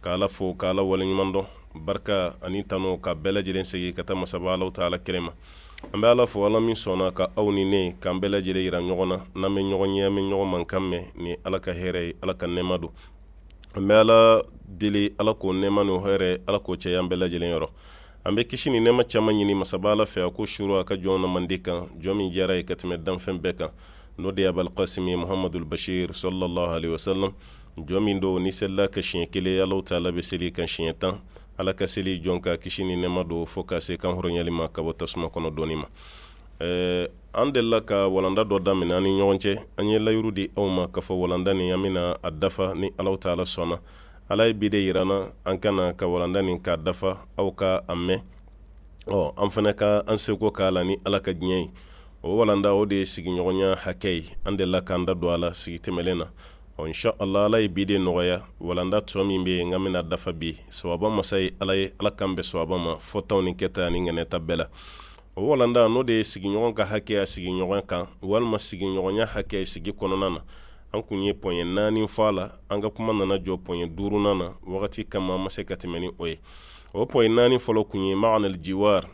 Ka Ala fo, ka Ala waleɲumandɔn, barika ani tano ka bɛɛ lajɛlen segin ka taa masaba Alahu taala kelen ma. An bɛ Ala fo, Ala min sɔnna ka aw ni ne, k'an bɛɛ lajɛlen jira ɲɔgɔn na, n'an bɛ ɲɔgɔn ye, an bɛ ɲɔgɔn mankan mɛn, nin ye Ala ka hɛrɛ ye, Ala ka nɛɛma don. An bɛ Ala deli, Ala k'o nɛɛma n'o hɛrɛ, Ala k'o caya an bɛɛ lajɛlen yɔrɔ. An bɛ kisi ni nɛɛma caman ɲini masaba Ala fɛ, a k'o suuru a ka jɔnw na mandi kan, jɔn min diyara a ye ka tɛmɛ danfɛn bɛɛ kan, n'o de ye Abal Qasimi Muhamadul Bashir sɔlalahu alehi wasalam, jɔn min don n'i selila a kan siɲɛ kelen ala taala bɛ seli i kan siɲɛ tan ala ka seli jɔn kan kisi ni nɛɛma don fo ka se kan hɔrɔnyali ma ka bɔ tasuma kɔnɔ dɔɔni ma ɛɛ an delila ka walanda dɔ daminɛ an ni ɲɔgɔn cɛ an ye layidu di aw ma ka fɔ walanda nin an bɛna a dafa ni ala taala sɔnna ala ye bi de yira an na an ka na ka walanda nin k'a dafa aw ka a mɛn ɔ an fana ka an seko k'a la ni ala ka diɲɛ ye o walanda o de ye sigiɲɔgɔnya hakɛ ye an delila k'an da don a la sigi tɛmɛlen na ɔ insha allah ala ye bi de nɔgɔya walanda tɔ min bɛ yen n ka bɛna dafa bi sawaba masa ye ala ye ala k'an bɛn sawaba ma fɔtaw ni kɛta ani ŋɛnɛta bɛɛ la o walanda n'o de ye sigiɲɔgɔn ka hakɛ ye a sigiɲɔgɔn kan walima sigiɲɔgɔnya hakɛ sigi kɔnɔna na an kun ye pɔɲɛ naani fɔ a la an ka kuma nana jɔ pɔɲɛ duurunan na wagati kama an ma se ka tɛmɛ ni o ye o pɔɲɛ naani fɔlɔ kun ye ma'anal jiwar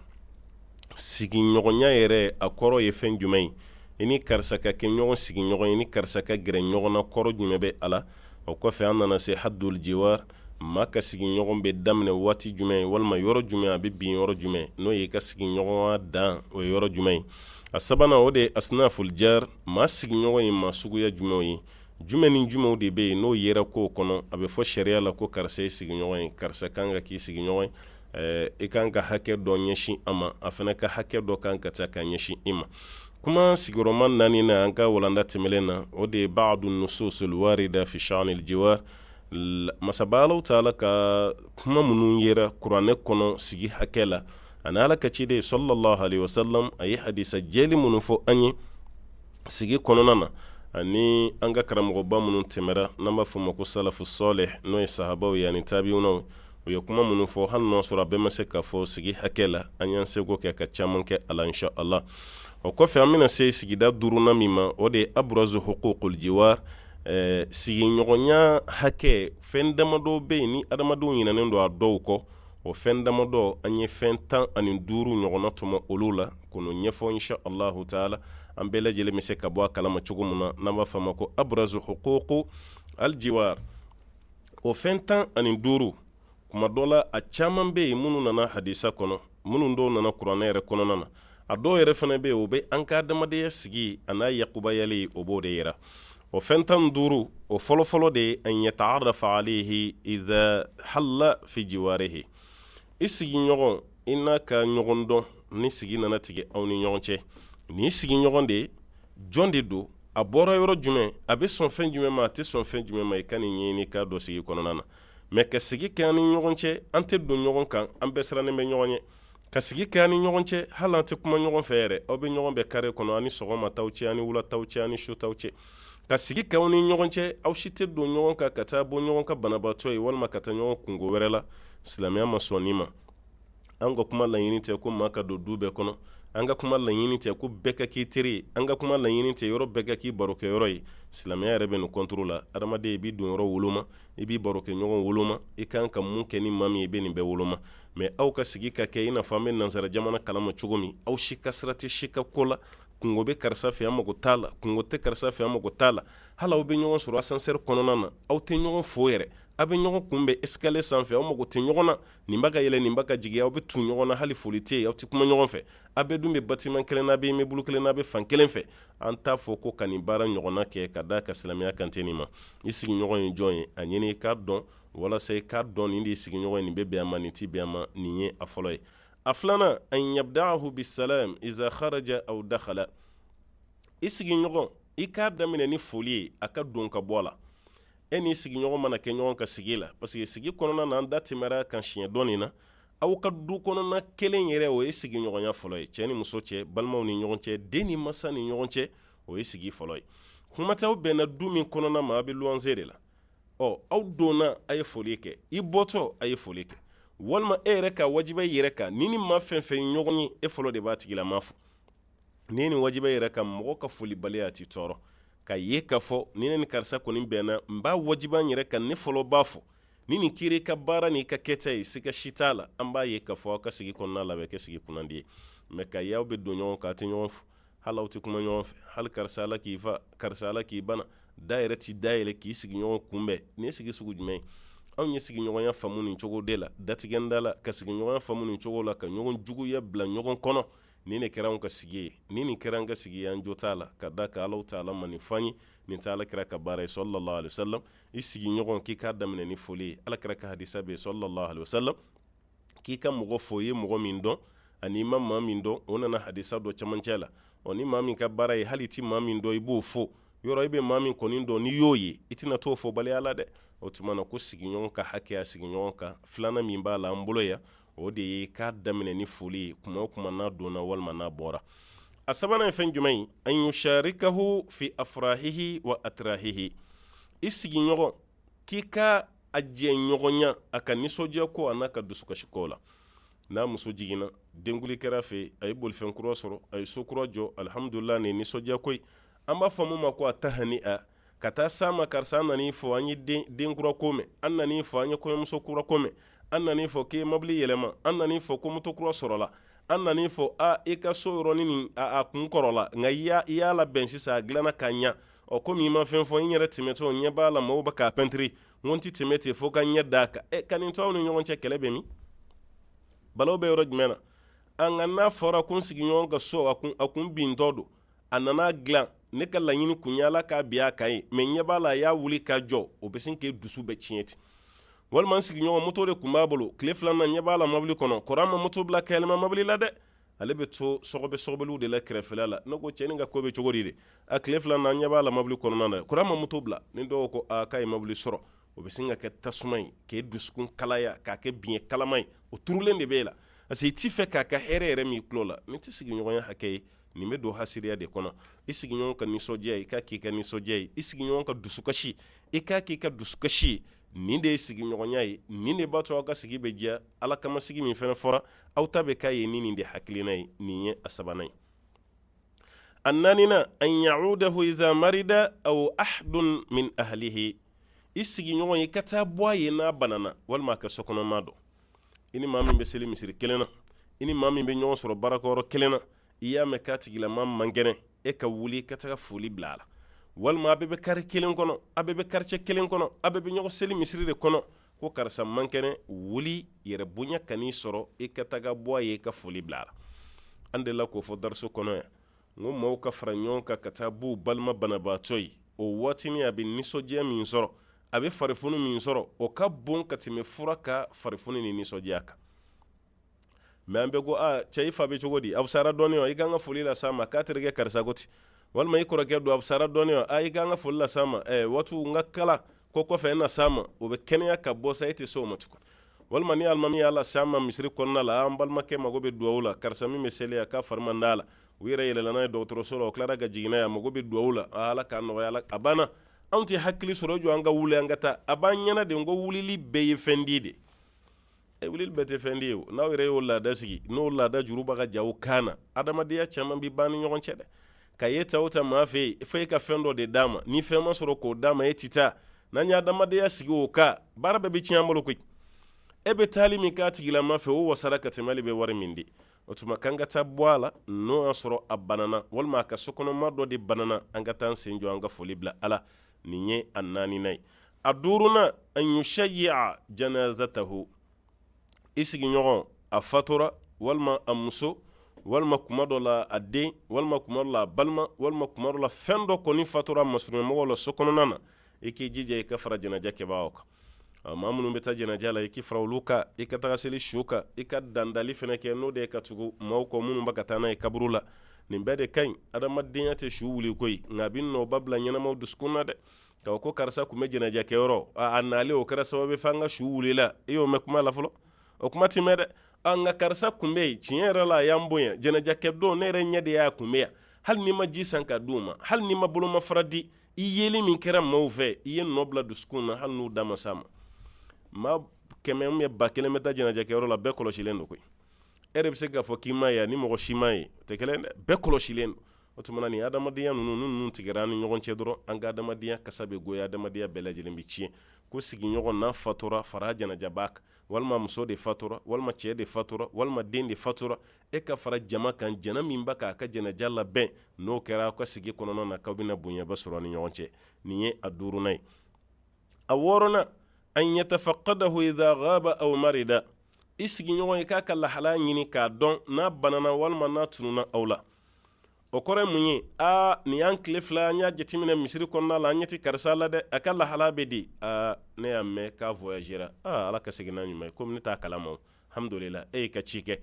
sigiɲɔgɔnya yɛrɛ a kɔrɔ ye fɛn jumɛn ye i ni karisa ka kɛ ɲɔgɔn sigiɲɔgɔn ye ni karisa ka gɛrɛ ɲɔgɔn na kɔrɔ jumɛn bɛ a la o kɔfɛ an nana se haddul jiwar maa ka sigiɲɔgɔn bɛ daminɛ waati jumɛn ye walima yɔrɔ jumɛn a bɛ bin yɔrɔ jumɛn n'o y'i ka sigiɲɔgɔnya dan o ye yɔrɔ jumɛn ye a sabanan o de ye asnaful jar maa sigiɲɔgɔn ye maa suguya jumɛnw ye jumɛn ni jumɛnw de bɛ yen n'o yera ko kɔnɔ a bɛ fɔ sariya la ko karisa y'i sigiɲɔgɔn ye karisa kan ka k'i sigiɲɔgɔn ye Eh, i kan ka hakɛ dɔ ɲɛsin a ma a fana ka hakɛ dɔ kan ka taa ka ɲɛsin i ma kuma sigiyɔrɔma naaninan an ka walanda tɛmɛlen na o de ye ba'du nususul warida fi sha'nil jiwar masaba ala taala ka kuma minnu yera kuranɛ kɔnɔ sigi hakɛ la ani ala ka ciden sɔlalahu alehi wasalam a ye hadisa jɛlen minnu fɔ an ye sigi kɔnɔna na ani an ka karamɔgɔba minnu tɛmɛra n'an b'a fɔ u ma ko salafu salih n'o ye sahabaw ye ani tabiw u ye kuma minnu fɔ hali n'a sɔrɔ a bɛɛ ma se ka fɔ sigi hakɛ la an y'an seko kɛ ka caman kɛ a la insha allah o kɔfɛ an bɛna se sigida duurunan min ma o de ye abrazu huququl jiwar eh, sigiɲɔgɔnya hakɛ fɛn damadɔ bɛ yen ni adamadenw ɲinɛnen don a dɔw kɔ o fɛn damadɔ an ye fɛn tan ani duuru ɲɔgɔnna tɔmɔ olu la k'olu ɲɛfɔ insha allahu taala an bɛɛ lajɛlen bɛ se ka bɔ a kalama cogo min na n'an b'a fɔ a ma ko abrazu huququl jiwar o fɛn tan ani duuru kuma dɔ la a caman bɛ yen minnu nana hadisa kɔnɔ minnu dɔw nana kuranɛ yɛrɛ kɔnɔna na a dɔw yɛrɛ fana bɛ yen o bɛ an ka adamadenya sigi a n'a yakubayali o b'o de yira o fɛn tan duuru o fɔlɔfɔlɔ de ye an yata'arafa alayhi iza halla fi jiwarihi i sigiɲɔgɔn i n'a ka ɲɔgɔn dɔn ni sigi nana tigɛ aw ni ɲɔgɔn cɛ nin i sigiɲɔgɔn de jɔn de don a bɔra yɔrɔ jumɛn a bɛ sɔn fɛn jumɛn ma a tɛ sɔn fɛn jumɛn ma i ka nin ɲɛɲini k'a dɔn sigi kɔnɔna na mais ka sigi kɛ an ni ɲɔgɔn cɛ an tɛ don ɲɔgɔn kan an bɛɛ sirannen bɛ ɲɔgɔn ɲɛ ka sigi kɛ an ni ɲɔgɔn cɛ hali an tɛ kuma ɲɔgɔn fɛ yɛrɛ aw bɛ ɲɔgɔn bɛn carré kɔnɔ ani sɔgɔma taw cɛ ani wula taw cɛ ani su taw cɛ ka sigi kɛ aw ni ɲɔgɔn cɛ aw si tɛ don ɲɔgɔn kan ka taa bɔ ɲɔgɔn ka banabaatɔ ye walima ka taa ɲɔgɔn kunko wɛrɛ la silamɛya ma sɔn nin ma an ka kuma laɲini tɛ ko maa ka don du bɛɛ kɔnɔ an ka kuma laɲini tɛ ko bɛɛ ka k'i teri ye an ka kuma laɲini tɛ yɔrɔ bɛɛ ka k'i barokɛyɔrɔ ye silamɛya yɛrɛ bɛ nin contre la adamaden i b'i donyɔrɔ woloma i b'i barokɛɲɔgɔn woloma i kan ka mun kɛ ni maa min i bɛ nin bɛɛ woloma mais aw ka sigi ka kɛ i n'a fɔ an bɛ nansara jamana kalama cogo min aw si ka sira tɛ si ka ko la kunko bɛ karisa fɛ yan mago t'a la kunko tɛ karisa fɛ yan mago t'a la hali aw bɛ ɲɔgɔn sɔrɔ ascenseur kɔnɔna na aw tɛ ɲɔgɔn fo yɛrɛ aw bɛ ɲɔgɔn kunbɛn escalier sanfɛ aw mago tɛ ɲɔgɔn na nin bɛ ka yɛlɛn nin bɛ ka jigin aw bɛ tu ɲɔgɔn na hali foli tɛ yen aw tɛ kuma ɲɔgɔn fɛ aw bɛɛ dun bɛ bâtiment kelen na aw bɛ immeuble kelen na aw bɛ fan kelen fɛ an t'a fɔ ko ka nin baara ɲɔgɔnna kɛ ka d'a kan silamɛya kan tɛ nin ma i sigiɲɔgɔn ye jɔn ye a ɲini i k'a dɔn walasa i k'a dɔn nin de ye sigiɲɔgɔn ye nin bɛ bɛn a ma nin tɛ bɛn a ma nin ye a fɔlɔ ye a filanan an yabda'ahu bisalam iza kharaja aw dakhala i sigiɲɔgɔn i k'a daminɛ ni foli ye a ka don ka bɔ la e n'i sigiɲɔgɔn mana kɛ ɲɔgɔn ka sigi la parce que sigi kɔnɔna na an da tɛmɛr'a kan siɲɛ dɔɔnin na aw ka du kɔnɔna kelen yɛrɛ o ye sigiɲɔgɔnya fɔlɔ ye cɛ ni muso cɛ balimaw ni ɲɔgɔn cɛ den ni masa ni ɲɔgɔn cɛ o ye sigi fɔlɔ ye kuma tɛ aw bɛnna du min kɔnɔna ma a bɛ luwanse de la ɔ aw donna a ye foli kɛ i bɔtɔ a ye foli kɛ walima e yɛrɛ k'a wajiba i yɛrɛ kan n'i ni maa fɛn fɛn ɲɔgɔn ye e fɔlɔ de b'a tigilama fo n'i nin wajiba i yɛrɛ kan mɔgɔ ka folibaliya t'i tɔɔrɔ k'a ye k'a fɔ ni ne ni karisa kɔni bɛnna n b'a wajiba n yɛrɛ kan ne fɔlɔ b'a fo nin ye kira ka baara n'a ka kɛta ye siga si t'a la an b'a ye k'a fɔ aw ka sigi kɔnɔna na bɛ kɛ sigi kunnandi ye mais k'a ye aw bɛ don ɲɔgɔn kan aw tɛ ɲɔgɔn fo hali aw tɛ kuma ɲɔgɔn fɛ hali karisa ala k'i fa karisa ala k'i bana da yɛrɛ t'i da yɛlɛ k'i sigiɲɔgɔn kunbɛn nin ye sigi sugu jumɛn ye anw ye sigiɲɔgɔnya faamu nin cogo de la datigɛ da la ka sigiɲɔgɔnya faamu nin cogo la ka ɲɔgɔn juguya bila ɲɔgɔn kɔnɔ nin de kɛra an ka sigi ye ni nin kɛra an ka sigi ye an jo t'a la ka d'a kan ala taala ma nin f'an ye nin tɛ ala kira ka baara ye sallallahu alaihi wasallam i sigiɲɔgɔn k'i k'a daminɛ ni foli ye ala kira ka hadisa bɛ sallallahu alaihi wasallam k'i ka mɔgɔ fo i ye mɔgɔ min dɔn ani i ma maa min dɔn o nana hadisa dɔ camancɛ la ɔ ni maa min ka baara ye hali i tɛ maa min dɔn i b'o fo yɔrɔ i bɛ maa min kɔni dɔn n'i y'o ye i tɛna t'o fobaliya la dɛ o tuma na ko sigiɲɔgɔn ka hakɛ a sigiɲɔgɔn kan filanan min b'a la an bolo yan o de ye k'a daminɛ ni foli ye kuma o kuma n'a donna walima n'a bɔra a sabanan ye fɛn jumɛn ye an yusharikahu fi afrahihi wa atrahihi i sigiɲɔgɔn k'i ka a jɛɲɔgɔnya a ka nisɔndiya ko an'a ka dusukasi ko la n'a muso jiginna denkuli kɛr'a fɛ a ye bolifɛn kura sɔrɔ a ye so kura jɔ alihamdulila nin nisɔndiya ko an b'a fɔ min ma ko attahani a ka taa s'a ma karisa an nan'i fo an ye den kura ko mɛn an nan'i fo an ye kɔɲɔmuso kura ko mɛn an nan'i fo k'i ye mɔbili yɛlɛma an nan'i fo ko moto kura sɔrɔla an nan'i fo aa i ka so yɔrɔnin nin a kun kɔrɔla nka i y'a i y'a labɛn sisan a dilanna ka ɲa ɔ komi i ma fɛn fɔ n yɛrɛ tɛmɛtɔ n ɲɛ b'a la mɔgɔw bɛ k'a pɛntiri n ko n tɛ tɛmɛ ten fo ka n ɲɛ d'a kan ɛ ka nin to aw ni ɲɔgɔn cɛ kɛlɛ bɛ min balawu bɛ yɔrɔ jumɛn na nka n'a fɔra ko n sigiɲɔgɔn ka so a kun a kun bintɔ don a nana dilan ne ka laɲini kun ye ala k'a bin a kan ye mɛ n ɲɛ b'a la a y'a wuli k'a jɔ o bɛ sin k'e dusu bɛɛ tiɲɛ ten walima n sigiɲɔgɔn moto de kun b'a bolo tile fila na n ɲɛ b'a la mobili kɔnɔ kɔr'a ma moto bila ka yɛlɛma mobili la dɛ ale bɛ to sɔgɔbɛ sɔgɔbɛliw de la kɛrɛfɛla la ne ko cɛnin ka ko bɛ cogo di dɛ a tile fila na n ɲɛ b'a la mobili kɔnɔna na kɔr'a ma moto bila ni dɔw ko aa k'a ye mobili sɔrɔ o bɛ sin ka kɛ tasuma ye k'e dusukun kalaya k'a kɛ biɲɛ kalaman ye o turulen de b'e la parce que i t'a fɛ k'a ka hɛrɛ yɛrɛ mɛn i tulo la nin tɛ sigiɲɔgɔnya hakɛ ye nin bɛ don hasidiya de kɔnɔ i sigiɲɔgɔn ka nisɔndiya i k'a k'i ka nisɔndiya ye i sigiɲɔgɔn ka dusukasi i k'a k'i ka dusukasi ye nin de ye sigiɲɔgɔnya ye nin de b'a to aw ka sigi bɛ diya ala kama sigi min fana fɔra aw ta bɛ k'a ye ni nin de hakilina ye nin ye a sabanan ye a naaninan an ya'udahu iza marida aw ahadun min ahlihi i sigiɲɔgɔn i ka taa bɔ a ye n'a banana walima a ka sokɔnɔmaa dɔ i ni maa min bɛ seli misiri kelen na i ni maa min bɛ ɲɔgɔn sɔrɔ baarakɛyɔrɔ kelen na i y'a mɛn k'a tigilama man kɛnɛ e ka wuli ka taga foli bila a la walima a bɛɛ bɛ kare kelen kɔnɔ a bɛɛ bɛ quartier kelen kɔnɔ a bɛɛ bɛ ɲɔgɔn seli misiri de kɔnɔ ko karisa man kɛnɛ wuli yɛrɛbonya kan'i sɔrɔ i ka taga bɔ a ye i ka foli bila a la an delila k'o fɔ dariso kɔnɔ yan n ko maaw ka fara ɲɔgɔn kan ka taa b'u balima banabaatɔ ye o waatinin a bɛ nisɔndiya min sɔrɔ a bɛ farifoni min sɔrɔ o ka bon ka tɛmɛ fura ka farifoni ni nisɔndiya kan mɛ an bɛ ko ah, cɛ i fa bɛ cogo di a fisara dɔɔni wa i ka kan ka foli las'a ma k'a terikɛ karisa ko ten walima i kɔrɔkɛ don a fisara dɔɔni wa ah, i ka kan ka foli las'a ma eh, watu n ka kala ko kɔfɛ e na s'a ma o bɛ kɛnɛya ka bɔ sa e tɛ se o ma tugun walima ni alimami y'a las'a ma misiri kɔnɔna la an balimakɛ mago bɛ duwawu la karisa min bɛ seli yan k'a fari man d'a la u yɛrɛ yɛlɛla n'a ye dɔgɔtɔrɔso la u tilara ka jigin n'a ye a mago bɛ duwawu la ah, ala k'a nɔgɔya a la a banna anw tɛ hakili sɔrɔ jɔ an ka wuli an ka taa a b'an ɲɛna de n ko wulili bɛ fɛn di dɛ e wulili bɛɛ tɛ fɛn di ye n'aw yɛrɛ y'o laada sigi n'o laada juru bɛ ka ja aw kan na adamadenya caman bɛ ban ni ɲɔgɔn cɛ dɛ k'a ye taa o taa maa fɛ yen fo e ka fɛn dɔ de d'a ma ni fɛn ma sɔrɔ k'o d'a ma e tɛ taa n'an ye adamadenya sigi o kan baara bɛɛ bɛ tiɲɛ an bolo koyi e bɛ taali min k'a tigilamaa fɛ o wasara ka tɛmɛ n'i bɛ wari min di o tuma k'an ka taa bɔ a la n'o y'a sɔrɔ a banana walima a ka sokɔnɔmaa dɔ de banana an ka taa an sen jɔ an ka foli bila a la nin ye a naaninan ye a duurunan an yushayyi'a janazatahu i sigiɲɔgɔn a fatura walima a muso walima kuma dɔ la a den walima kuma dɔ la a balima walima kuma dɔ la fɛn dɔ kɔni fatura masurunmɔgɔ la so kɔnɔna na e k'i jija i ka fara janajakɛbaaw kan maa minnu bɛ taa janaja la i k'i fara olu kan i ka taga seli su kan i ka dandali fana kɛ n'o de ye ka tugu maaw kɔ minnu bɛ ka taa n'a ye kaburu la nin bɛɛ de ka ɲi adamadenya tɛ su wuli koyi nka a bɛ nɔba bila ɲɛnamaw dusukun na dɛ ka ko karisa tun bɛ janaja kɛyɔrɔ a nalen o kɛra sababu ye fo an ka su wulila i y'o mɛn kuma la fɔlɔ o kuma ti mɛn dɛ nka karisa tun bɛ yen tiɲɛ yɛrɛ la a y'an bonya janaja kɛ don ne yɛrɛ ɲɛ de y'a tun bɛ yan hali n'i ma ji san ka di u ma hali n'i ma bolomafara di i yeli min kɛra maaw fɛ i ye nɔ bila dusukun na hali n'u da ma s'a ma maa kɛmɛ maa ba kelen bɛ taa janajakɛyɔrɔ la bɛɛ kɔlɔsilen don koyi e de bɛ se k'a fɔ k'i m'a ye ani mɔgɔ si m'a ye tɛ kelen dɛ bɛɛ kɔlɔsilen don o tuma na ni adamadenya ninnu tigɛra an ni ɲɔgɔn cɛ dɔrɔn an ka adamadenya kasa bɛ goya adamadenya bɛɛ lajɛlen bɛ tiɲɛ ko sigiɲɔgɔn n'a fatura fara janajabaa kan walima muso de fatura walima cɛ de fatura walima den de fatura e ka fara jama kan jama min bɛ k'a ka janaja labɛn n'o kɛra aw ka sigi kɔnɔna na k'aw bɛna bonyaba sɔrɔ ni ɲɔgɔn cɛ nin ye a duurunan ye a wɔɔrɔnan an yatafaqqadahu idha ghaba aw marida i sigiɲɔgɔn i k'a ka lahala ɲini k'a dɔn n'a banana walima n'a tununa aw la o kɔrɔ mun ye aa nin y'an tile fila an y'a jateminɛ misiri kɔnɔna la an ɲɛ tɛ karisa la dɛ a ka lahala bɛ di aa ne y'a mɛn k'a voyagera aa ala ka segin n'a ɲuman ye komi ne t'a kalama Alhamdulila e y'i ka ci kɛ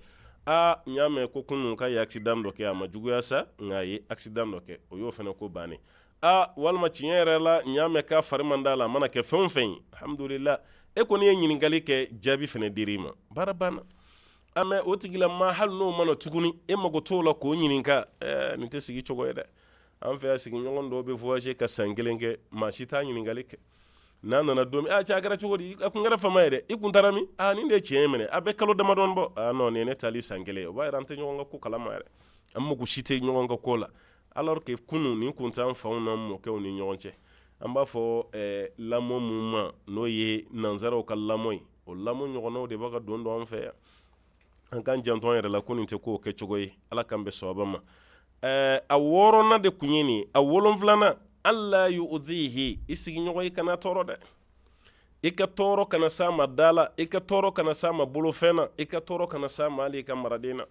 aa n y'a mɛ ko kunun k'a ye accident dɔ kɛ a ma juguya sa nka a ye accident dɔ kɛ o y'o fana ko bannen ye aa walima tiɲɛ yɛrɛ la n y'a mɛ k'a fari man d'a la a mana kɛ fɛn o fɛn ye alhamdulila e kɔni ye ɲininkali kɛ jaabi fana dir'i ma baara banna ah mais o tigilamaa hali n'o ma na tuguni e mago t'o la k'o ɲininka ɛɛ nin tɛ sigi cogo ye dɛ an fɛ sigiɲɔgɔn dɔ bɛ voyager ka san kelen kɛ maa si t'a ɲininkali kɛ n'a nana don min cɛ a kɛra cogo di a tun kɛra fama ye dɛ i tun taara min ni de cɛ in minɛ a bɛ kalo damadɔ bɔ nɔn nin ne taali san kelen o b'a yira an tɛ ɲɔgɔn ka ko kalama yɛrɛ an mako si tɛ ɲɔgɔn ka ko la alors que kunun ni kun an faw n'an mɔkɛw ni ɲɔgɔn cɛ an b'a fɔ lamɔ minnu ma n'o ye nansaraw ka lamɔ ye o lamɔ ɲɔgɔnw de bɛ ka don dɔrɔn an fɛ yan an k'an janto an yɛrɛ la ko nin tɛ ko kɛcogo ye ala k'an bɛn sawaba ma Ɛɛ a wɔɔrɔna de kun ye nin ye a wolonfilana alla yuzihi i sigiɲɔgɔn i kana tɔɔrɔ dɛ i ka tɔɔrɔ kana s'a ma da la i ka tɔɔrɔ kana s'a ma bolofɛn na i ka tɔɔrɔ kana s'a ma i ka maraden na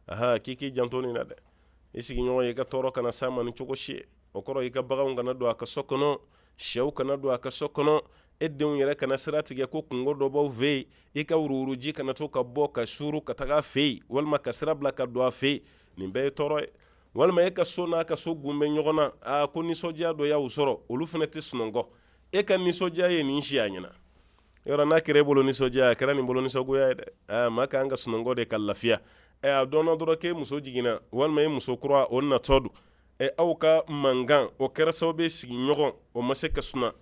a k'i k'i janto nin na dɛ i sigiɲɔgɔn i ka tɔɔrɔ kana s'a ma ni cogo si ye o kɔrɔ i ka baganw kana don a ka so kɔnɔ shɛw kana don a ka so kɔnɔ e denw yɛrɛ kana sira tigɛ ko kunko dɔ b'aw fɛ yen i ka wuruwuruji kana to ka bɔ ka suuru ka taga a fɛ yen walima ka sira bila ka don a fɛ yen nin bɛɛ ye tɔɔrɔ ye walima e ka so n'a ka so kun bɛ ɲɔgɔn na aa ko nisɔndiya dɔ y'aw sɔrɔ olu fana tɛ sunɔgɔ e ka nisɔndiya ye nin si a ɲɛna yɔrɔ n'a kɛra e bolo nisɔndiya a kɛra nin bolo nisɔngoya ye dɛ aa maa kan ka sunɔgɔ de ka lafiya ɛ a dɔnna dɔrɔn k'e muso jiginna walima e muso kura o natɔ don ɛ aw ka mankan o kɛra sababu ye sigiɲɔgɔn o ma se ka suna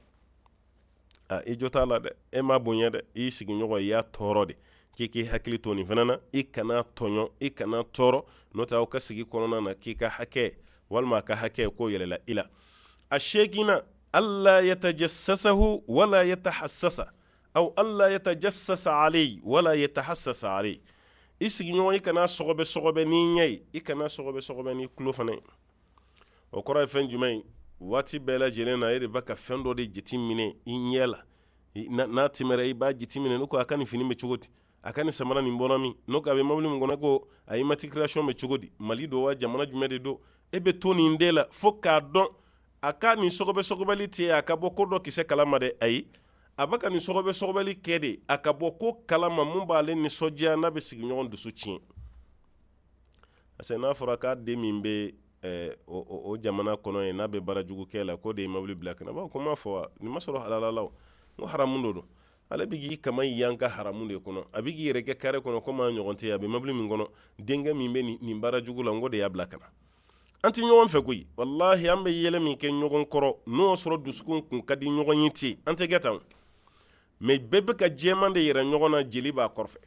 i jo t'a la dɛ e m'a bonya dɛ i sigiɲɔgɔn i y'a tɔɔrɔ de k'i k'i hakili to nin fana na i kana tɔɲɔ i kana tɔɔrɔ n'o tɛ aw ka sigi kɔnɔna na k'i ka hakɛ walima a ka hakɛ k'o yɛlɛla i la a seeginan alla yatajassasa wala yatahassasa aw alla yatajassasa alayhi wala yatahassasa alayhi i sigiɲɔgɔn i kana sɔgɔbɛ n'i ɲɛ ye i kana sɔgɔbɛ n'i tulo fana ye o kɔrɔ ye fɛn jumɛn ye waati bɛɛ lajɛlen na e de b'a ka fɛn dɔ de jate minɛ i ɲɛ la n'a tɛmɛra i b'a jate minɛ ne ko a ka nin fini bɛ cogo di a ka nin samara nin bɔra min n'o ko a bɛ mobili min kɔnɔ ko a immatriculation bɛ cogo di mali don wa jamana jumɛn de don e bɛ to nin de la fo k'a dɔn a ka nin sɔgɔbɛli tɛ a ka bɔ ko dɔ kisɛ kalama dɛ ayi a bɛ ka nin sɔgɔbɛli kɛ de a ka bɔ ko kalama min b'ale nisɔndiya n'a bɛ sigiɲɔgɔn dusu tiɲɛ parce que n'a fɔra k'a den min bɛ eh, o, o, o jamana kɔnɔ yen n'a bɛ baara jugu kɛ la k'o de ye mobili bila ka na a ko n m'a fɔ wa nin ma sɔrɔ halala la n ko haramu de don ale bɛ k'i kaman yanga haramu de kɔnɔ a bɛ k'i yɛrɛ kɛ kare kɔnɔ komi a ɲɔgɔn tɛ a bɛ mobili min kɔnɔ denkɛ min bɛ nin, nin baara jugu la n k'o de y'a bila ka na an tɛ ɲɔgɔn fɛ koyi walahi an bɛ yɛlɛ min kɛ ɲɔgɔn kɔrɔ n'o sɔrɔ dusukun kun ka di ɲɔgɔn ye ten an tɛ kɛ tan mɛ bɛɛ bɛ ka jɛman de yira ɲɔgɔn na jeli b'a kɔrɔfɛ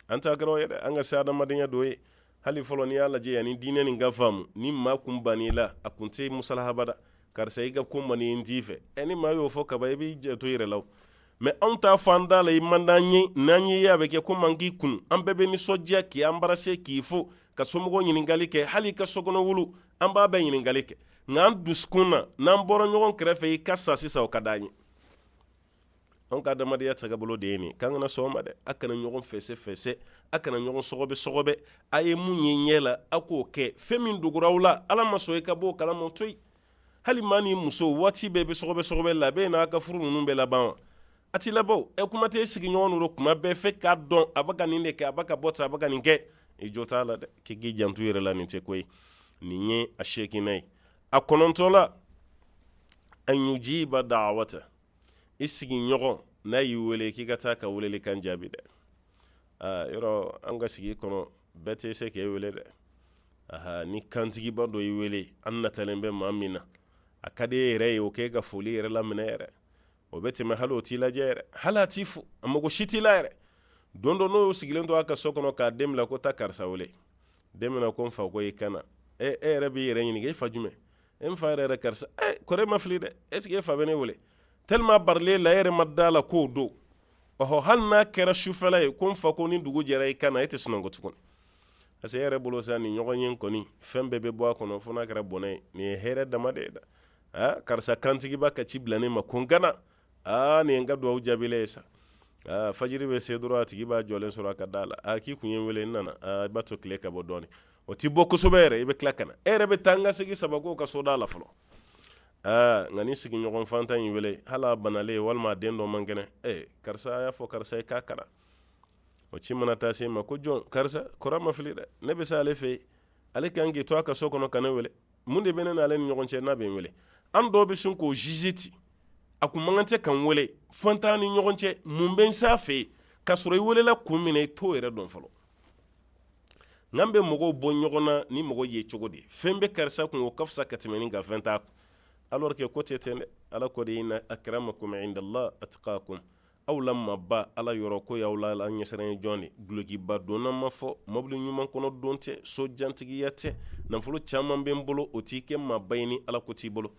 an ta kɛra yɛrɛ an ka se adamadenya dɔ ye hali fɔlɔ n'i y'a lajɛ yanni diinɛ nin ka faamu ni maa kun ban i la a kun tɛ musalaha abada karisa i ka ko man n t'i fɛ ɛ ni maa y'o fɔ kaba i b'i janto yɛrɛ la mɛ anw ta fɔ an da la i man d'an ye n'an y'i ye a bɛ kɛ komi an k'i kun an bɛɛ bɛ nisɔndiya k'i an bara se k'i fo ka somɔgɔw ɲininkali kɛ hali ka sokɔnɔ wulu an b'a bɛɛ ɲininkali kɛ nka an dusukun na n'an bɔra ɲɔgɔn kɛrɛfɛ i ka sa sisan o ka d'an ye an ka adamadenya tagabolo de ye nin k'an kana sɔn a ma dɛ a kana ɲɔgɔn fɛsɛ fɛsɛ a kana ɲɔgɔn sɔgɔbɛ sɔgɔbɛ a ye mun ye ɲɛ la a k'o kɛ fɛn min dogora aw la ala ma sɔn i ka bɔ o kalama to yen hali maa ni muso waati bɛɛ bɛ sɔgɔbɛ sɔgɔbɛ la bɛ n'a ka furu ninnu bɛɛ laban wa a t'i labɔ ɛ kuma tɛ sigiɲɔgɔn don kuma bɛɛ fɛ k'a dɔn a bɛ ka nin de kɛ a bɛ ka bɔ ta a bɛ ka nin kɛ i jɔ t'a la dɛ k'i k'i janto yɛrɛ la nin tɛ ko ye nin ye a seeginan ye a kɔnɔntɔnnan an yujiba da'wa i sigiɲɔgɔn n'a y'i weele k'i ka taa ka weele kan jaabi dɛ yɔrɔ an ka sigi kɔnɔ bɛɛ tɛ se k'i weele dɛ aa ni kantigiba dɔ y'i weele an natalen bɛ maa min na a ka di e yɛrɛ ye o k'e ka foli yɛrɛ laminɛ yɛrɛ o bɛ tɛmɛ hali o t'i lajɛ yɛrɛ hali a t'i fo a mago si t'i la yɛrɛ don dɔ n'o sigilen to a ka so kɔnɔ k'a den bila ko taa karisa weele den ko n fa ko i ka na e e yɛrɛ b'i yɛrɛ ɲininka e fa jumɛn e n fa yɛrɛ yɛrɛ karisa eh, kɔrɔ ma fili dɛ est ce que e fa bɛ ne wele tellement barala e la e yɛrɛ ma da a la k'o don ɔhɔ hali n'a kɛra sufɛla ye ko n fa ko ni dugu jɛra i ka na e tɛ sunɔgɔ tuguni parce que e yɛrɛ bolo sa nin ɲɔgɔn ye kɔni fɛn bɛɛ bɛ bɔ a kɔnɔ fo n'a kɛra bɔnɛ ye nin ye hɛrɛ dama de ye da aa karisa kantigiba ka ci bila ne ma ko n ka na aa nin ye n ka dugawu jaabilen ye sa aa fajiri bɛ se dɔrɔn a tigi b'a jɔlen sɔrɔ a ka da la aa k'i kun ye n wele n nana aa i b'a to tile ka bɔ dɔɔni o ti bɔ kosɛbɛ yɛrɛ i bɛ tila ka na e yɛrɛ bɛ taa n ka segin saba k'o ka so da la fɔlɔ aa nka ni sigiɲɔgɔn faantan y'i wele hali a banalen walima a den dɔ man kɛnɛ ee karisa a y'a fɔ karisa ye k'a ka na o ci mana taa se a ma ko jɔn karisa kɔrɔ ma fili dɛ ne bɛ se ale fɛ yen ale kan k'i to a ka so kɔnɔ ka ne wele mun de bɛ ne n'ale ni ɲɔgɔn cɛ n'a bɛ n wele an dɔw bɛ sin k'o juge ten a kun man kan tɛ ka n wele fɛn t'an ni ɲɔgɔn cɛ mun bɛ n s'a fɛ yen k'a sɔrɔ i welela kun min na i t'o yɛrɛ dɔn fɔlɔ n'an bɛ mɔgɔw bɔ ɲɔgɔn na ni mɔgɔ ye cogo di fɛn bɛ karisa kun o ka fisa ka tɛmɛ nin kan fɛn t'a kun alors que ko tɛ ten dɛ ala ko de inna akramakum indallah atqakum aw la maaba ala yɔrɔ k'o y'aw la ala ɲɛsiranɲɛ jɔn de dulokiba donna ma fɔ mobili ɲuman kɔnɔ don tɛ so jan tigiya tɛ nafolo caman bɛ n bolo o t'i kɛ maaba ye ni ala ko t'i bolo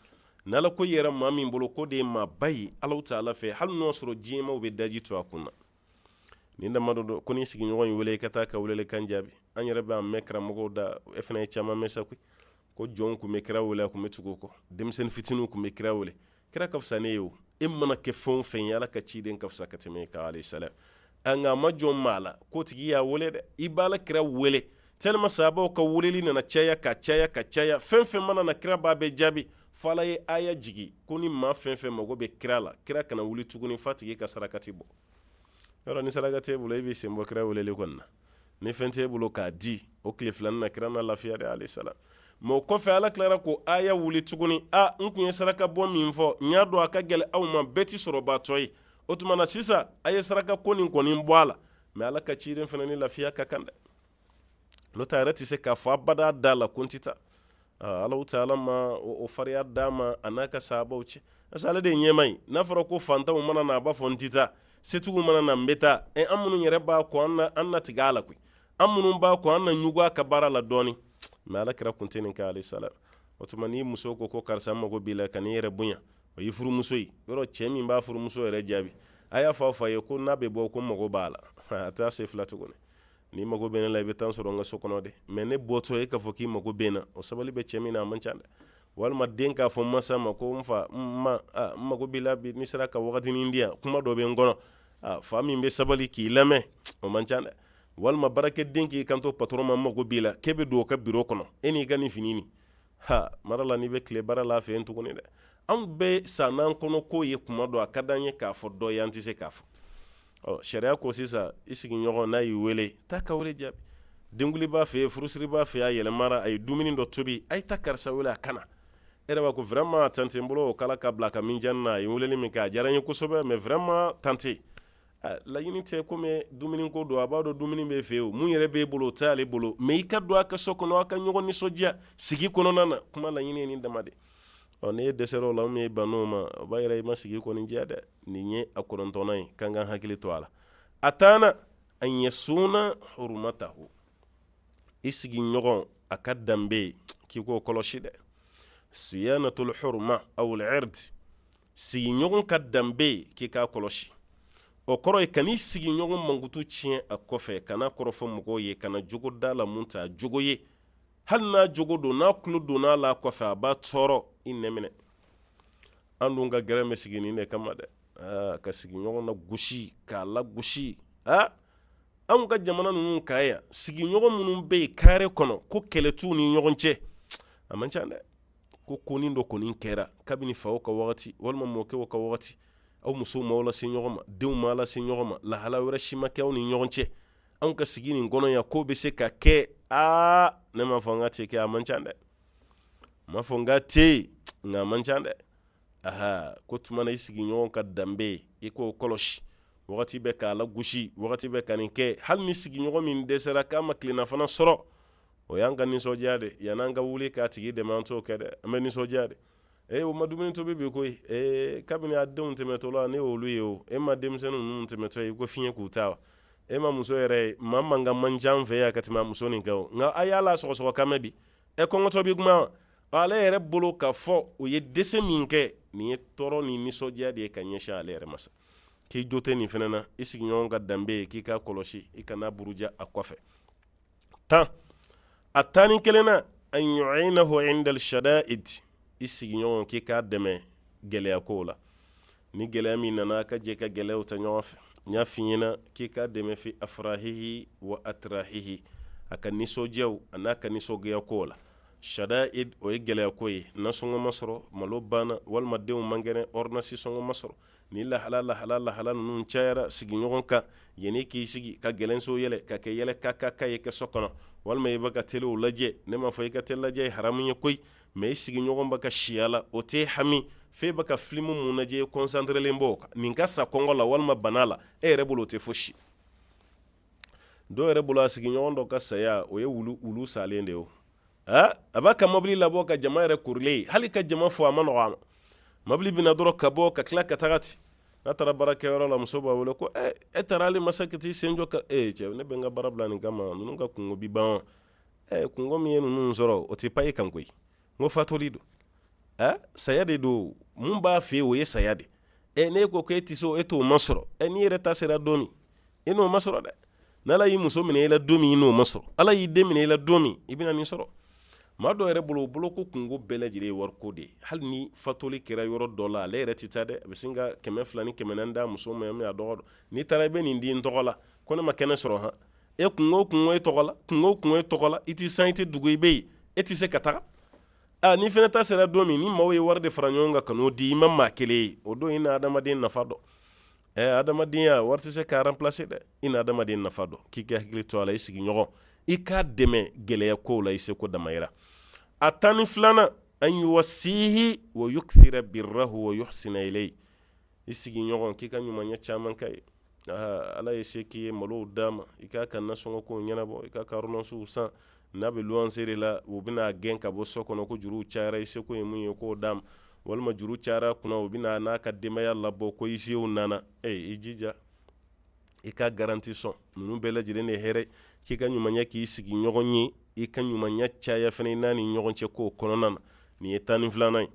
n'ala ko yera maa min bolo k'o de ye maaba ye ala ta'ala fɛ hali n'o sɔrɔ diɲɛ maaw bɛ daji tu a kun na nin damadɔ don ko ni sigiɲɔgɔn y'i wele i ka taa ka wele kan jaabi an yɛrɛ b'a mɛn karamɔgɔw da e fana ye caman mɛn sa koyi ko jɔn tun bɛ kira wele a tun bɛ tugu o kɔ denmisɛnnin fitininw tun bɛ kira wele kira ka fisa ne ye o e mana kɛ fɛn o fɛn ye ala ka ciden ka fisa ka tɛmɛ e kan sa nka a ma jɔn maa la k'o tigi y'a weele dɛ i b'a la kira wele tellement sahabaw ka weleli nana caya ka caya ka caya fɛn fɛn mana na kira b'a bɛɛ jaabi fo ala ye aya jigin ko ni maa fɛn fɛn mago bɛ kira la kira kana wuli tuguni f'a tigi ka sarakati bɔ yɔrɔ ni saraka t'i bolo i b'i sen bɔ kira wele kɔnɔna na ni fɛn t'e bolo k'a di o tile fila nin na kira na lafiya de alayhi salam mɛ o kɔfɛ ala tilara ko aya wuli tuguni a n tun ye saraka bɔ min fɔ n y'a dɔn a ka gɛlɛ aw ma bɛɛ ti sɔrɔbaatɔ ye o tuma na sisan a ye saraka ko nin kɔni bɔ a la mɛ ala ka ciden fana ni lafiya ka kan dɛ n'o tɛ a yɛrɛ tɛ se k'a fɔ abada a da la ko n tɛ taa alahu taala ma o fariya d'a ma a n'a ka sahabaw cɛ parce que ale de ye ɲɛmaa ye n'a fɔra ko fantanw mana na a b'a fɔ n tɛ taa setigiw mana na n bɛ taa ɛ an minnu yɛrɛ b'a kɔ an na tigɛ a la koyi an minnu b'a kɔ an na ɲugu a ka baara la dɔɔnin mɛ ala kira kun tɛ nin kɛ alayhi salam o tuma ni muso ko ko karisa mago b'i la kan'i yɛrɛ bonya o y'i furumuso ye yɔrɔ cɛ min b'a furumuso yɛrɛ jaabi a y'a fɔ a fa ye ko n'a bɛ bɔ ko mago b'a la a t'a se fila tuguni n'i mago bɛ ne la i bɛ taa n sɔrɔ n ka so kɔnɔ dɛ mɛ ne bɔtɔ e k'a fɔ k'i mago bɛ n na o sabali bɛ cɛ min na a man ca dɛ walima den k'a fɔ masa ma ko n fa n mago b'i la bi n'i sera ka wagatinin di yan kuma dɔ bɛ n kɔnɔ fa min bɛ sabali k'i lamɛn o man ca dɛ walima baarakɛden k'i kanto patɔrɔn ma n mago b'i la k'e bɛ don o ka biro kɔnɔ e n'i ka nin fini Ha mara la n'i bɛ tile baara la a fɛ yen tuguni dɛ anw bɛ san n'an kɔnɔ k'o ye kuma dɔ a ka di an ye k'a fɔ dɔ ye an tɛ se k'a fɔ ɔ sariya ko sisan i sigiɲɔgɔn n'a y'i weele taa k'a jaabi denkundi b'a fɛ yen furusiri b'a fɛ yen a yɛlɛmara a ye dumuni dɔ tobi a ye taa karisa weele a ka na e ko vraiment tante n bolo o k' ka bila ka min jan na a ye weeleli min kɛ a diyara n ye kosɛbɛ mɛ vraiment tante laɲini tɛ ko dumuni ko don a b'a dɔn dumuni b'e fɛ yen min yɛrɛ b'e bolo o t'ale bolo mɛ i ka don a ka so kɔnɔ a ka ɲɔgɔn nisɔndiya sigi kɔnɔna na kuma laɲini ye nin dama de ɔ n'e dɛsɛra o la e bann'o ma o b'a yira i ma sigi kɔni diya dɛ nin ye a kɔnɔntɔnnan ye k'an ka hakili to a la a tannan an yasuna hurmatahu i sigiɲɔgɔn a ka danbe k'i k'o kɔlɔsi dɛ siyanatul hurma aw al-ird sigiɲɔgɔn ka danbe ye k'i k'a kɔlɔsi o kɔrɔ ye kan'i sigiɲɔgɔn mankutu tiɲɛ a kɔfɛ kan'a kɔrɔfɔ mɔgɔw ye kana jogo d'a la min t'a jogo ye hali n'a jogo don n'a tulo donna a la kɔfɛ a b'a tɔɔrɔ i nɛn minɛ an dun ka gɛrɛ bɛ sigi nin de kama dɛ ah, ka sigiɲɔgɔn nagosi k'a lagosi ah, anw ka jamana ninnu ka yan sigiɲɔgɔn minnu bɛ yen kare kɔnɔ ko kɛlɛ t'u ni ɲɔgɔn cɛ a man ca dɛ ko konin dɔ kɔni kɛra kabini faw ka wagati walima mɔkɛw ka wagati aw musow m'aw lase ɲɔgɔn ma denw m'aw lase ɲɔgɔn ma lahala wɛrɛ si ma kɛ aw ni ɲɔgɔn cɛ anw ka sigi nin kɔnɔ yan k'o bɛ se ka kɛ aa ne m'a fɔ n k'a tɛ kɛ a man ca dɛ n m'a fɔ n k'a tɛ nka a man ca dɛ aha k'o tuma na i sigiɲɔgɔn ka danbe i k'o kɔlɔsi wagati bɛɛ k'a lagosi wagati bɛɛ ka nin kɛ hali ni sigiɲɔgɔn min dɛsɛra k'a ma tilelafana sɔrɔ o y'an ka nisɔndiya de yann'an ka wuli k'a tigi dɛmɛ an t'o kɛ dɛ an bɛ nisɔndiya de ee o ma dumuni tobi bi koyi ee kabini a denw tɛmɛtɔ la ne y'olu ye o e ma denmisɛnnin ninnu tɛmɛtɔ ye ko fiɲɛ k'u ta wa e ma muso yɛrɛ ye maa man ka man jan fɛ yan ka tɛmɛ muso nin kɛ o nka a y'a la sɔgɔsɔgɔ kan bi e kɔngɔtɔ bi kuma ale yɛrɛ bolo ka fɔ o ye dɛsɛ min kɛ nin ye tɔɔrɔ ni nisɔndiya de ye ka ɲɛsin ale yɛrɛ ma sa k'i jo tɛ nin fana na i sigiɲɔgɔn ka danbe ye k'i k'a kɔlɔsi i kan'a buruja a kɔfɛ tan a tan ni kelennan an yu'inahu 'inda al-shada'id i sigiɲɔgɔn k'i k'a dɛmɛ gɛlɛya ko la ni gɛlɛya min nana a ka jɛ ka gɛlɛya ta ɲɔgɔn fɛ n y'a f'i ɲɛna k'i k'a dɛmɛ fi afrahihi wa atrahihi a ka nisɔndiyaw a n'a ka nisɔngoya ko la shada'id o ye gɛlɛyako ye nasɔngɔ ma sɔrɔ malo banna walima denw man kɛnɛ ordonnance sɔngɔ ma sɔrɔ ni lahala lahala lahala ninnu cayara sigiɲɔgɔn kan yanni k'i sigi ka gɛlɛnso yɛlɛ ka kɛ yɛlɛ ka ka ka ye kɛ so kɔnɔ walima i bɛ ka tele lajɛ ne m'a fɔ i ka tele lajɛ ye haramu ye koyi mais i sigiɲɔgɔn bɛ kasi la o t'e hami f'e bɛ ka filimu minnu lajɛ e concentrelen b'o kan nin ka sa kɔngɔ la walima bana la e yɛrɛ bolo o tɛ fosi dɔw yɛrɛ bolo a sigiɲɔgɔn dɔ ka saya o ye wulu salen de ye aa a b'a ka mobili labɔ ka jama yɛrɛ korilen hali ka jama fo a man nɔgɔ a ma mobili bɛna dɔrɔn ka bɔ ka tila ka taga ten n'a taara baarakɛyɔrɔ la muso b'a wele ko ɛ e taara hal'i ma se ka t'i sen jɔ ka ee cɛ ne bɛ n ka baara bila nin kama ninnu ka kunko bi ban ɛ kunko min ye ninnu sɔrɔ o tɛ pa e kan koyi n ko fatuli don ɛ saya de don mun b'a fɛ o ye saya de ɛ n'e ko k'e tɛ se o e t'o masɔrɔ ɛ n'i yɛrɛ ta sera don min i n'o masɔrɔ dɛ ni ala y'i muso minɛ i la don min i n'o masɔrɔ ala y'i den minɛ i la don min i bɛna nin sɔrɔ maa dɔw yɛrɛ bolo bolo ko kunko bɛɛ lajɛlen ye wariko de ye hali ni fatuli kɛra yɔrɔ dɔ la ale yɛrɛ tɛ taa dɛ a bɛ sin ka kɛmɛ fila ni kɛmɛ naani d'a muso ma min a dɔgɔ dɔn n'i taara i bɛ nin di n tɔgɔ la ko ne ma kɛnɛ sɔrɔ han e kunko kunko e tɔgɔ la kunko kunko e tɔgɔ la i tɛ san i tɛ dugu i bɛ yen e tɛ se ka taga aa n'i fana ta sera don min ni maaw ye wari de fara ɲɔgɔn kan ka n'o di i ma maa kelen ye o don i na adamaden nafa dɔn ɛ adamadenya wari tɛ se k'a remplacer dɛ i na adamaden nafa dɔn k'i k'i hakili to a la i sigiɲɔgɔn i k'a dɛmɛ gɛlɛya kow la i seko damayira a tan ni filanan an yuwasihi wa yukthira birrahu wa yuhsina ilayhi i sigiɲɔgɔn k'i ka ɲumanya caman k'a ye ala ye se k'i ye malow d'a ma i k'a ka nasɔngɔkow ɲɛnabɔ i k'a ka ordonnancew san n'a bɛ luwanse de la u bɛna a gɛn ka bɔ so kɔnɔ ko juru cayara i seko ye mun ye k'o d'a ma walima juru cayara kunna u bɛn'a n'a ka denbaya labɔ ko huissierw nana e i jija i ka garanti sɔn ninnu bɛɛ lajɛlen ni hɛrɛ k'i ka ɲumanya k'i sigiɲɔgɔn ye i ka ɲumanya caya fana i n'a ni ɲɔgɔn cɛ k'o kɔnɔna na nin ye tan ni filanan ye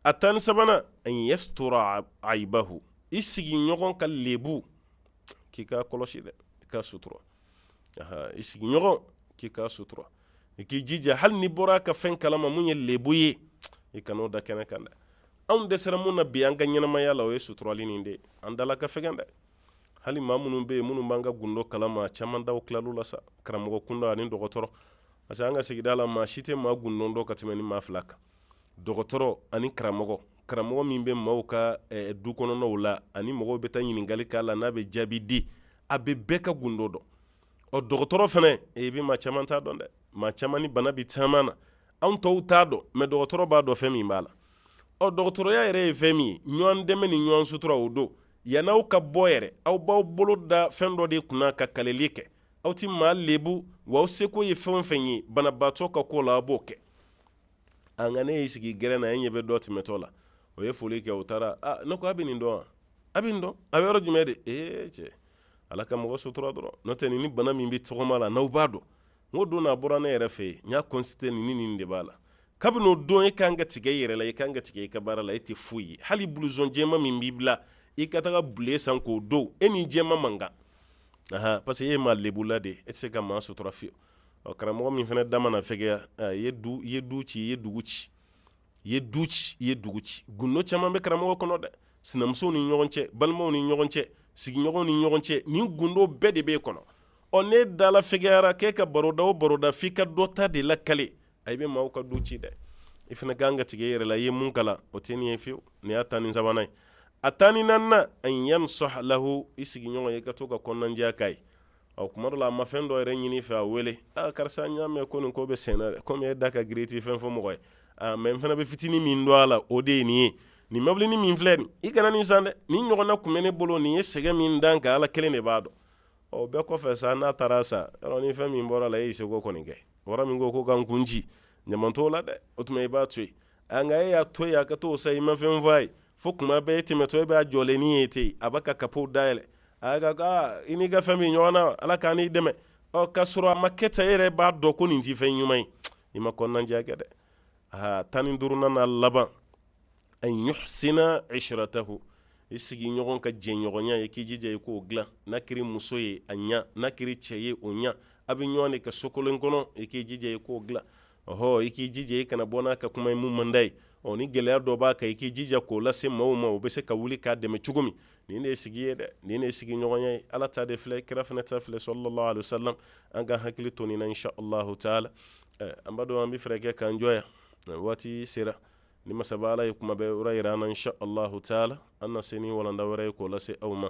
a tan ni sabanan an yastura aibahu i sigiɲɔgɔn ka lebu k'i k'a kɔlɔsi dɛ i k'a sutura i sigiɲɔgɔn k'i ka sutura i k'i jija hali n'i bɔra a ka fɛn kalama min ye lebu ye i kana o da kɛnɛ kan dɛ anw dɛsɛra min na bi an ka ɲɛnamaya la o ye suturali nin de an dala ka fɛgɛn dɛ hali maa minnu bɛ yen minnu b'an ka gundo kalama caman daw tilalu la sa karamɔgɔ kunda ani dɔgɔtɔrɔ parce que an ka sigida la maa si tɛ maa gundo dɔn ka tɛmɛ ni maa fila kan dɔgɔtɔrɔ ani karamɔgɔ karamɔgɔ min bɛ maaw ka dukɔnɔnaw la ani mɔgɔw bɛ taa ɲininkali k'a la n'a bɛ jaabi di a bɛ bɛɛ ka gundo dɔn ɔ dɔgɔtɔrɔ fana e bɛ maa caman ta dɔn dɛ maa caman ni bana bɛ taama na anw tɔw t'a dɔn mais dɔgɔtɔrɔ b'a dɔn fɛn min b'a la ɔ dɔgɔtɔrɔya yɛrɛ ye fɛn min ye ɲɔgɔn dɛmɛ ni ɲɔgɔn sutura o don yann'aw ka bɔ yɛrɛ aw b'aw bolo da fɛn dɔ de kunna ka kaleli kɛ aw tɛ maa lebu wa aw seko ye fɛn fɛn ye banabaatɔ ka ko la a b'o kɛ a nka n'e y'i sigi gɛrɛn na e ɲɛ bɛ dɔ tɛmɛtɔ la o ye foli kɛ o taara ah, ne ko a bɛ nin dɔn wa a bɛ nin dɔn a bɛ yɔrɔ jumɛn de ee cɛ ala ka mɔgɔ sutura dɔrɔn n'o tɛ nin ni bana min bɛ tɔgɔma la n'aw b'a dɔn n ko don n'a bɔra ne yɛrɛ fɛ yen n y'a consulté nin ni nin de b'a la kabini o don e kan ka tigɛ i yɛrɛ la i kan ka tigɛ i ka baara la e tɛ foyi ye hali bulusɔn jɛma min b'i bila i ka taga bule san k'o don e ni jɛma man kan parce que e maa lebula de e tɛ se ka maa sutura fiyewu ɔ karamɔgɔ min fana da mana fɛgɛya ɛ, i ye du i ye du ci i ye dugu ci i ye du ci i ye dugu ci gundo caman bɛ karamɔgɔ kɔnɔ dɛ sinamusow ni ɲɔgɔn cɛ balimaw ni ɲɔgɔn cɛ sigiɲɔgɔnw ni ɲɔgɔn cɛ nin gundo bɛɛ de b'e kɔnɔ ɔ n'e dala fɛgɛyara k'e ka baroda o baroda f'i ka dɔ ta de lakale a i bɛ maaw ka du ci dɛ i fana kan ka tigɛ i yɛrɛ la i ye min kalan o tɛ nin ye fiyewu nin y'a tan ni sabanan ye a tan ni naaninan an yansaha lahu i sigiɲɔgɔn ye i ka to ka kɔnɔnajɛya k'a ye ɔ tuma dɔ la a ma fɛn dɔ yɛrɛ ɲini i fɛ a wele aa karisa n y'a mɛn ko nin ko bɛ sen na dɛ komi e da ka girin i tɛ fɛn fɔ mɔgɔ ye aa mais n fana bɛ fitinin min dɔn a la o de ye nin ye nin mɔbilinin min filɛ nin i kana nin san dɛ nin ɲɔgɔnna tun bɛ ne bolo nin ye sɛgɛn min da n kan ala kelen de b'a dɔn ɔ bɛɛ kɔfɛ sa n'a taara san yɔrɔ ni fɛn min bɔr'a la e y'i seko kɔni kɛ wara min ko ko ka n kun ci ɲama t'o la dɛ o tuma i b'a to yen nka e y'a to yen a ka t'o san i ma fɛn f'a ye fo tuma bɛɛ e tɛmɛtɔ e b'a jɔlenni ye ten a b'a ka kapo dayɛlɛ a ka ka ah, i n'i ka fɛn min ɲɔgɔn na ala k'an n'i dɛmɛ ɔ k'a sɔrɔ a ma kɛ tan e yɛrɛ b'a dɔn ko nin ti fɛn ɲuman ye i ma kɔnɔnajɛya kɛ dɛ aa tan ni duurunan n'a laban an yuhsina ishratahu i sigiɲɔgɔn ka jɛɲɔgɔnya ye k'i jija i k'o dilan n'a kɛra muso ye a ɲa n'a kɛra cɛ ye o ɲa a bɛ ɲɔgɔn de kan so kelen kɔnɔ i k'i jija i k'o dilan ɔhɔ i k'i jija i kana bɔ n'a ka kuma ye min man d'a ye ɔ ni gɛlɛya dɔ b'a kan i k'i jija k'o lase maaw ma o bɛ se ka wuli k'a dɛmɛ cogo min nin de ye sigi ye dɛ nin de ye sigiɲɔgɔnya ye ala ta de filɛ kira fana ta filɛ sallallahu alaihi wasallam an ka hakili to nin na insha allahu taala eh, an b'a dɔn an bɛ fɛɛrɛ kɛ k'an jɔ yan eh, waati sera ni masaba ala ye tuma wɛrɛ yira an na insha allahu taala an na se ni walanda wɛrɛ ye k'o lase aw ma